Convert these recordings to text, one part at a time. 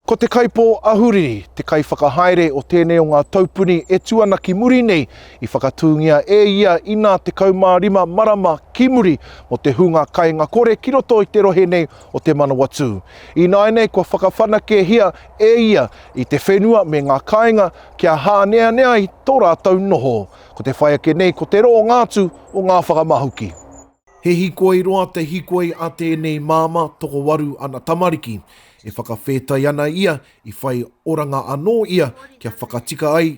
Ko te Kaipō Ahuriri te kaiwhakahaere o tēnei o ngā taupuni e tū ana ki muri nei, i whakatūngia e ia inā 15 marama ki muri mō te hunga kainga kore ki roto i te rohe nei o Te Manawatū. Ināianei kua whakawhanakehia e ia i te whenua me ngā kāinga kia hāneanea ai tō rātou noho. Ko te whai ake nei ko te roonga atu o ngā whakamahuki. He hikoi roa te hikoi a tēnei māmā tokowaru ana tamariki. E whakawhētai ana ia i whai oranga anō ia kia whakatika ai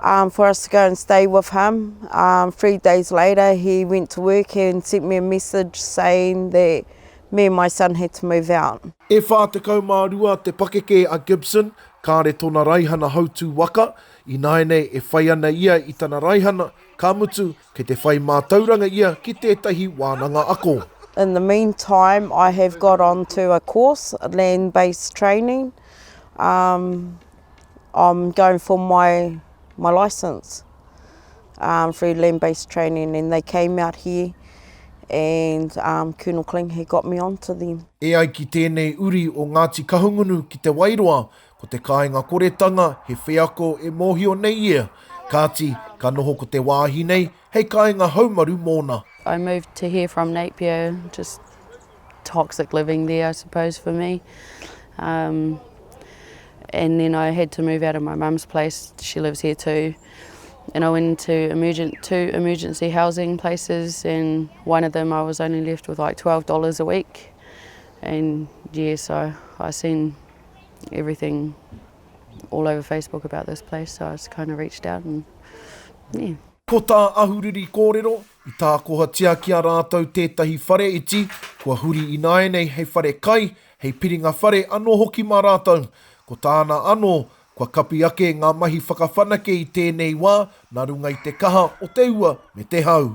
Um for us to go and stay with him um three days later he went to work and sent me a message saying that me and my son had to move out. E whā tekau mā rua te pakeke a Gibson, kāre tōna raihana hautū waka, ināianei e whai ana ia i tana raihana, ka mutu, Kei te whai mātauranga ia ki tētahi wānanga ako. In the mean time I have got on to a course, land based training, um I'm going for my my licence um through land based training and they came out here and um Colonel Kling he got me on to them. E ai ki tēnei uri o Ngāti Kahungunu ki Te Wairoa, Ko te kāinga koretanga he wheako e mōhio nei ia, kāti, ka noho ko te wāhi nei hei kāinga haumaru mōna. I moved to here from Napier, just toxic living there I suppose for me. Um, and then I had to move out of my mum's place, she lives here too. And I went into emergent, two emergency housing places and one of them I was only left with like $12 a week. And yeah, so I seen everything all over Facebook about this place, so I just kind of reached out and yeah. Ko tā Ahuriri kōrero, i tākohatia ki a rātou tētahi whare iti, kua huri ināianei hei whare kai, hei piringa whare anō hoki mā rātou. Ko tāna anō, kua kapi ake ngā mahi whakawhanake i tēnei wā nā runga i te kaha o te ua me te hau.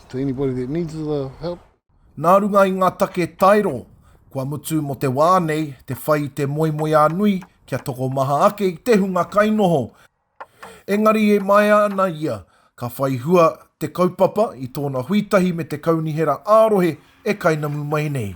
To anybody that needs the help. Nā runga i ngā take taero, kua mutu mō te wā nei te whai i te moemoeā nui kia tokomaha ake i te hunga kainoho. Engari e maea ana ia, ka whai hua te kaupapa i tōna hui tahi me te kaunihera ā-rohe e kainamu mai nei.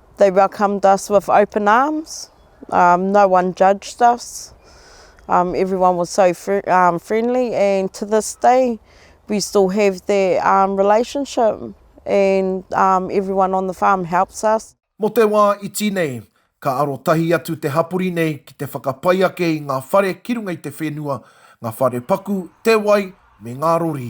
They welcomed us with open arms, um, no one judged us, um, everyone was so fr um, friendly and to this day we still have that um, relationship and um, everyone on the farm helps us. Mo te wā iti nei, ka arotahi atu te hapori nei ki te whakapai ake i ngā whare ki runga i te whenua, ngā whare paku, te wai, me ngā rori.